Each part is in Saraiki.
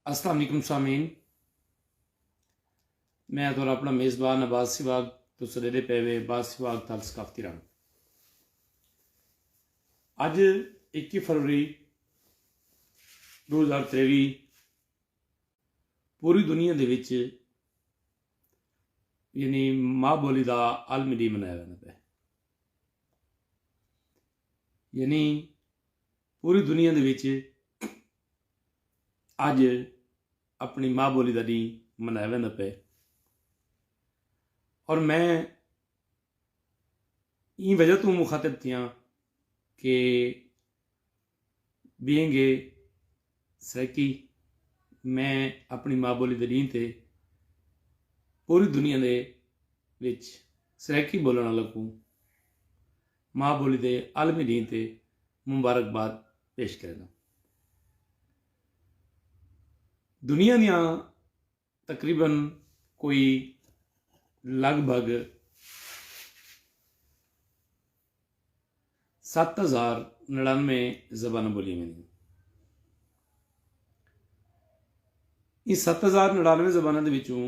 السلام علیکم سامعین میں اتور اپنا میزبان عباس سواگ تو سڈیرے پے وے عباس سواگ تھل ثقافتی رنگ اج اکی فروری دو ہزار تریوی پوری دنیا دے وچ یعنی ماں بولی دا عالمی ڈی منایا جانا پہ یعنی پوری دنیا دے وچ اڄ اپݨی ماء ٻولی دا ݙینھ منایا ویندا پئے اور میں ایں وجہ توں مخاطب تھیاں کہ بینگ اے سرائیکی میں اپݨی ماء ٻولی دے ݙینھ تے پوری دنیا دے وچ سرائیکی ٻولݨ آلاں کوں ماء ٻولی دے عالمی ݙینھ تے مبارکباد پیش کرینداں۔ دنیا دیاں تقریبا کوئی لڳ بھڳ ست ہزار نڑانوے زباناں ٻولیاں ویندیاں۔ ایں ست ہزار نڑانوے زباناں دے وچوں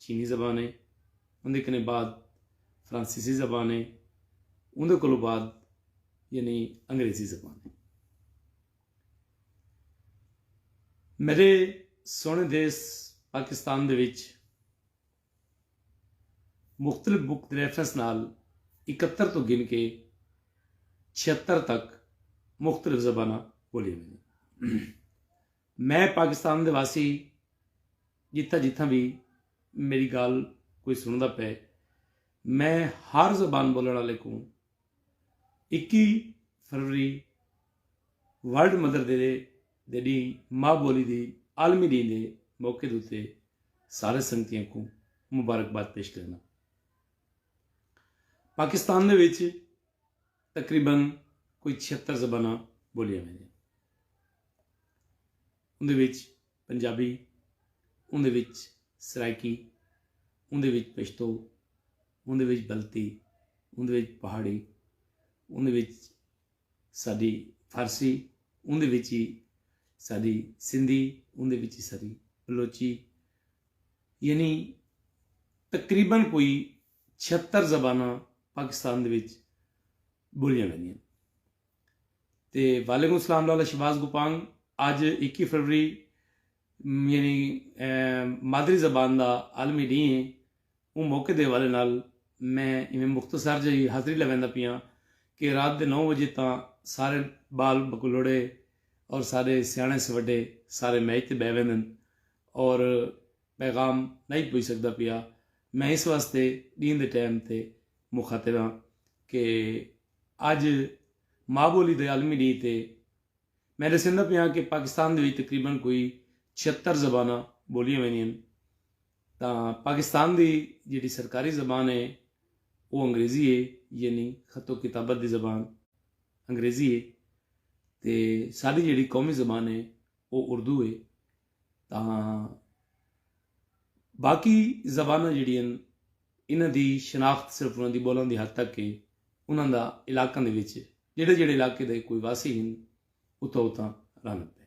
چینی زبان ہے اوندے کنے بعد فرانسیسی زبان ہے اوندے کولو بعد یعنی انگریزی زبان ہے میرے سونے دیس پاکستان دے وچ مختلف بک ریفرنس نال اکہتر تو گن کے چھہتر تک مختلف زباناں بولیاں ویندیاں میں پاکستان دے واسی جتھاں جتھاں وی میری گالھ کوئی سنڑدا پئے میں ہر زبان بولن والے کوں اکی فروری ورلڈ مدر دے دے ڈی ماں بولی دی عالمی ڈی دے موقع دوتے سارے سنگتیاں کوں مبارکباد پیش کرنا پاکستان دے وچ تقریبا کوئی چھہتر زباناں بولیاں ویندیاں ہن۔ اوندے وچ پنجابی، اوندے وچ سرائیکی، اوندے وچ پشتو، اوندے وچ بلتی، اوندے وچ پہاڑی، اوندے وچ ساڈی فارسی، اوندے وچ ہی ساڈی سندھی، اوندے وچ ہی ساڈی بلوچی یعنی تقریبا کوئی چھہتر زباناں پاکستان دے وچ ٻولیاں ویندیاں تے وعلیکم السلام لالا شہباز گوپانگ اج اکی فروری یعنی مادری زبان دا عالمی ڈینہہ ہے اوں موقع دے حوالے نال میں ایویں مختصر جئی حاضری لویندا پیاں کہ رات دے نو وجے تاں سارے بال بکلوڑے اور ساڈے سیاݨے سوڈے سارے میز تے بہہ ویندن اور پیغام نئیں پج سگدا پیا، میں اس واسطے ڈینھ دے ٹائم تے مخاطب ہاں کہ اج ماء بولی دے عالمی ڈینھ تے میں ڈسیندا پیاں کہ پاکستان دے وچ تقریبا کوئی چھہتر زباناں بولیاں ویندیاں ہن تاں پاکستان دی جیڑھی سرکاری زبان ہے او انگریزی ہے یعنی خط و کتابت دی زبان انگریزی ہے تے ساڈی جیڑھی قومی زبان ہے او اردو ہے تاں باقی زباناں جڑیاں انہاں دی شناخت صرف انہاں دی بولاں دی حد تک ہے انہاں دا علاقاں دے وچ جڑے جڑے علاقے دے کوئی واسی ہن اتھاں اتھاں رن پے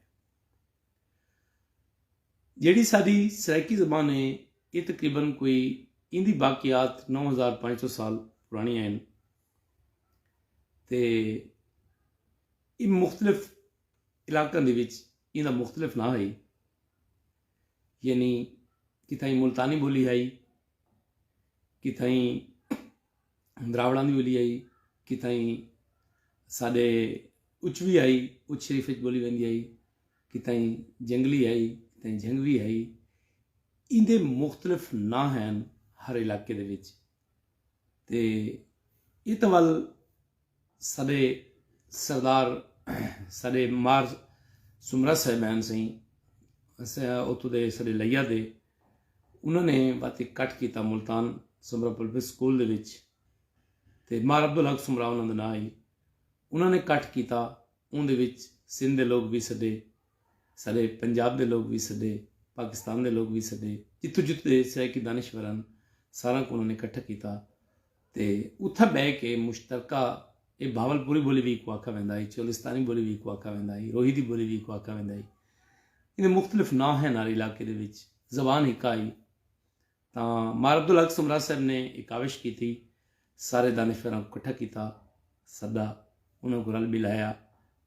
جیڑی ساڈی سرائیکی زبان ہے یہ تقریبا کوئی ان دی باقیات نو ہزار پانچ سو سال پرانی ہیں تے یہ مختلف علاقاں دے وچ ایں دا مختلف ناں ہئی یعنی کتھائیں ملتانی بولی ہئی کتھائیں دراوڑاں دی بولی ہئی کتھائیں ساڈے اچوی ہئی اچ شریف اچ بولی ویندی ہئی کتھائیں جنگلی ہئی کتھائیں جھنگوی ہئی ایں دے مختلف ناں ہن ہر علاقے دے وچ تے ات ول سڈے سردار سڈے مار سمرا صاحبین سئیں اتو دے سڈے لیا دے انہوں نے بات کٹ کیتا ملتان سمرا پبلک سکول دے وچ تے مار عبد الحق سمرا انہوں نے نہ آئی انہوں نے کٹ کیتا اون دے وچ سندھ دے لوگ بھی سڈے سارے پنجاب دے لوگ وی سڈے، پاکستان دے لوگ وی سڈے، جتھوں جتھوں دے سرائیکی دانشور ہن ساراں کوں انہاں نے کٹھا کیتا تے اتھاں بہہ کے مشترکہ اے بھاول پوری بولی وی ایکوں آکھا ویندا ہئی، چولستانی بولی وی ایکوں آکھا ویندا ہئی، روہی دی بولی وی ایکوں آکھا ویندا ہئی۔ ایندے مختلف ناں ہن ہر علاقے دے وچ، زبان ہکا ہئی۔ تاں مار عبدالحق سومرا صاحب نے اے کاوش کیتی۔ سارے دانشوراں کوں کٹھا کیتا۔ سدا انہاں کوں رل مل آیا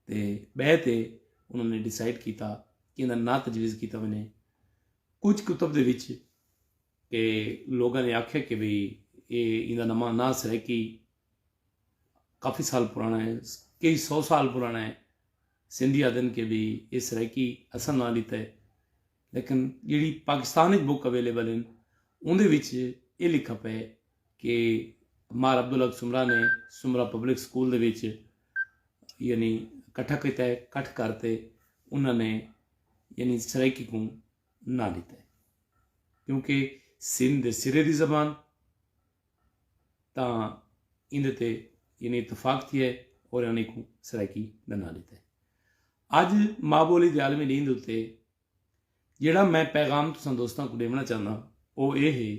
تے بہہ تے انہاں نے ڈیسائیڈ کیتا کہ ایندا ناں تجویز کیتا ونجے۔ کجھ کتب دے وچ اے لوگاں نے آکھیا کہ بھئی اے ایندا نماں ناں سرائیکی کافی سال پرانا ہے۔ کئی سو سال پرانا ہے۔ سندھی آدھن کہ بھئی اے سرائیکی اساں ناں ڈیتا ہے۔ لیکن جیڑھی پاکستان اچ بک اویلیبل ہن اوندے وچ ایہ لکھا پئے کہ مار عبدالحق سمرہ نے سمرہ پبلک سکول دے وچ یعنی کٹھا کیتا ہے کٹھ کر تے انہاں نے یعنی سرائیکی کوں ناں ڈتا ہے کیونکہ سندھ دے سرے دی زبان تاں ایندے تے یعنی اتفاق تھیا ہے اور انہاں نے کوں سرائیکی دا ناں ڈتا ہے اج ماء بولی دے عالمی ڈینھ دے اتے جیڑھا میں پیغام تساں دوستاں کوں ڈیونڑاں چاہنداں او اے ہے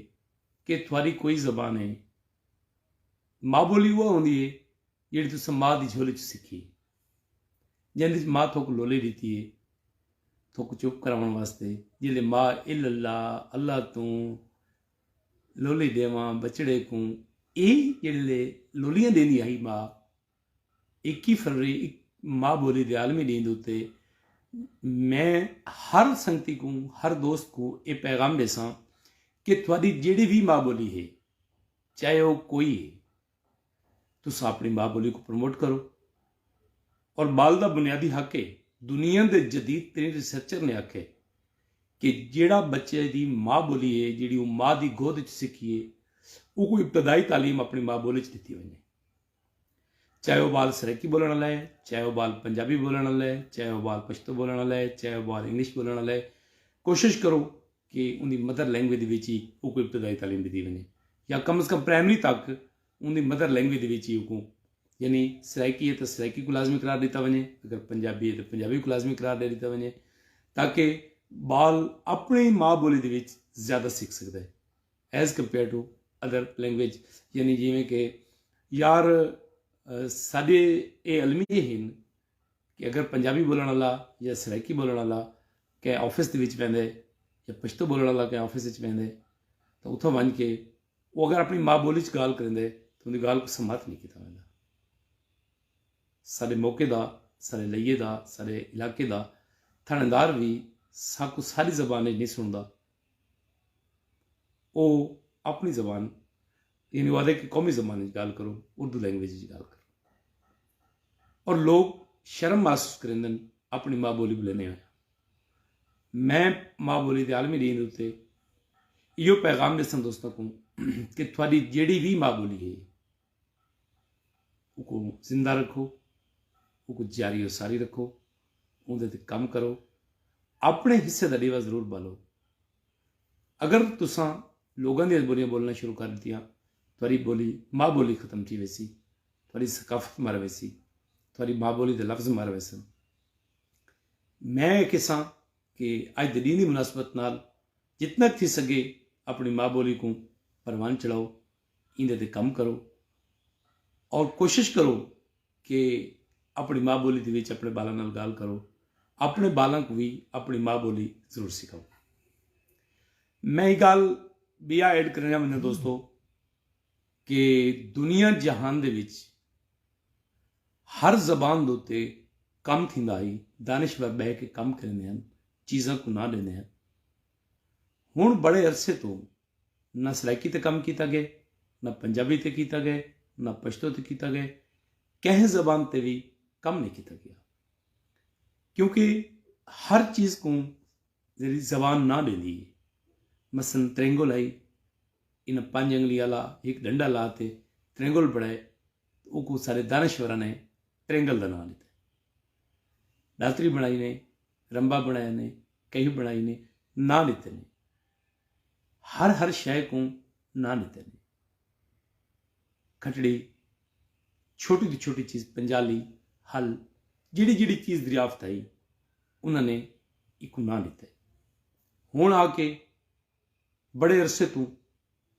کہ تھواری کوئی زبان ہے ماء بولی اوہا ہوندی ہے جیڑھی تساں ماء دی جھولی چ سکھی جیندے وچ ماء تھوک لولی ڈیتی ہے تھوک چپ کراون واسطے جیلے ماء الا اللہ اللہ توں لولی ڈیواں بچڑے کوں اے جیڑے لولیاں دیندی ہائی ماء اکی فروری اک ماء بولی دے عالمی ڈینھ دے اتے میں ہر سنگتی کوں ہر دوست کوں اے پیغام ڈیساں کہ تہاڈی جیڑھی وی ماء بولی ہے چاہے او کوئی ہے تساں اپنی ماء بولی کوں پروموٹ کرو اور بال دا بنیادی حق ہے دنیا دے جدید ترین ریسرچر نے آکھے کہ جیڑھا بچے دی ماں بولی ہے جیڑھی او ماں دی گود وچ سکھیے او کو ابتدائی تعلیم اپنی ماں بولی وچ دتی ونجے چاہے او بال سرائیکی بولݨ آلا ہے چاہے او بال پنجابی بولݨ آلا ہے چاہے او بال پشتو بولݨ آلا ہے چاہے او بال انگلش بولݨ آلا ہے کوشش کرو کہ ان دی مدر لینگویج دے وچ ہی او کو ابتدائی تعلیم ݙتی ونڄے یا کم از کم پرائمری تک ان دی مدر لینگویج دے وچ ہی او کو یعنی سرائیکی ہے تو سرائیکی کو لازمی قرار ݙتا ونڄے اگر پنجابی ہے تو پنجابی کو لازمی قرار ݙے ݙتا ونڄے تاکہ بال اپݨی ماں بولی دے وچ زیادہ سکھ سکدا ہے as compare to other language یعنی جیویں کہ یار ساڈے اے المیے ہن کہ اگر پنجابی بولن والا یا سرائیکی بولن والا کہیں آفس دے وچ ویندے یا پشتو بولن والا کہیں آفس وچ ویندے تو اتھا ونج کے وہ اگر اپنی ماں بولی چ گال کریندے تو ان دی گال کو سماعت نہیں کیتا ویندا سارے موقع دا سارے لئیے دا سارے علاقے دا تھانے دار بھی ساکو ساری زبان نہیں سندا او اپنی زبان یعنی وہ آدھے کہ قومی زبان وچ گال کرو اردو لینگویج وچ گال کرو اور لوگ شرم محسوس کریندن اپنی ماں بولی بلنے ہوئے میں ماں بولی دے عالمی دین ہوتے یہ پیغام دے سن دوستوں کو کہ تھوڑی جیڑی بھی ماں بولی ہے اوکوں زندہ رکھو اوکوں جاری و ساری رکھو اوندے تے کم کرو اپنے حصے دا ڈیوا ضرور بالو اگر تساں لوگوں دیا بولیاں بولنا شروع کر دیتیاں تھوڑی بولی ماں بولی ختم تھی ویسی تھوڑی ثقافت مر ویسی تھوڑی ماں بولی دے لفظ مر ویسن میں کساں کہ اج دے ڈین دی مناسبت نال جتنا تھی سگے اپنی ماں بولی کو پروان چڑھاؤ ایندے تے کم کرو اور کوشش کرو کہ اپنی ماں بولی دے وچ اپنے بالاں نال گال کرو اپنے بالاں کو بھی اپنی ماں بولی ضرور سکھاؤ میں یہ گال بیا ایڈ کرنا چاہوں گا دوستو کہ دنیا جہان دے وچ ہر زبان دوتے کم تھی آئی دانشور بہ کے کم کرنے ہیں چیزاں کو نہ لینے ہیں ہوں بڑے عرصے تو نہ سرائیکی تے کم کیتا گئے، نہ پنجابی تے کیتا گئے، نہ پشتو تے کیتا گئے، کہیں زبان تے وی کم نئیں کیتا گیا۔ کیونکہ ہر چیز کوں ذری زبان ناں ڈیندی ہے۔ مثلا ترینگل ہئی، انہاں پنج انگلی آلا ہک ڈنڈا لا تے ترینگل بنڑائے تے اوکوں سارے دانشوراں نے ترینگل دا ناں ڈتا ہے۔ ڈاتری بنڑائی نے، رمبا بنڑایا نے، کہیں بنڑائی نے، ناں ڈتے نے۔ ہر ہر شئے کوں ناں ݙتے نے۔ کھٹڑی، چھوٹی توں چھوٹی چیز پنجالی، ہل، جیڑھی جیڑھی چیز دریافت ہئی انہاں نے ایکوں ناں ݙتے۔ ہݨ آ کے بڑے عرصے توں۔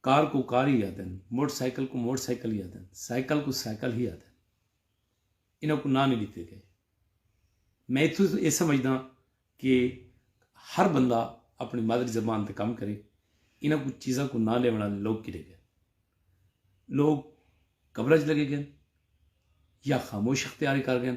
کار کوں کار ہی آدھن، موٹر سائیکل کوں موٹر سائیکل ہی آدھن، سائیکل کوں سائیکل ہی آدھن۔ انہاں کوں ناں نہیں ڈتے گئے۔ میں اتھوں توں ایہ سمجھداں کہ ہر بندہ اپنی مادری زبان تے کم کرے۔ انہاں کوں چیزاں کوں ناں ڈیوݨ آلے لوگ کیڈے گئے؟ لوگ قبراں وچ لگے گئے یا خاموش اختیاری کر گئے۔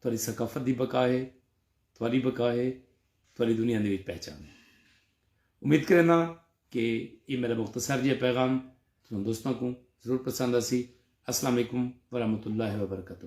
تہاݙی ثقافت دی بقا ہے، تہاݙی بقا ہے، تہاݙی دنیا دے وچ پہچان ہے۔ امید کرینداں کہ ایہ میݙا مختصر جیہا پیغام تساں دوستاں کوں ضرور پسند آسی۔ السلام علیکم ورحمۃ اللہ وبرکاتہ۔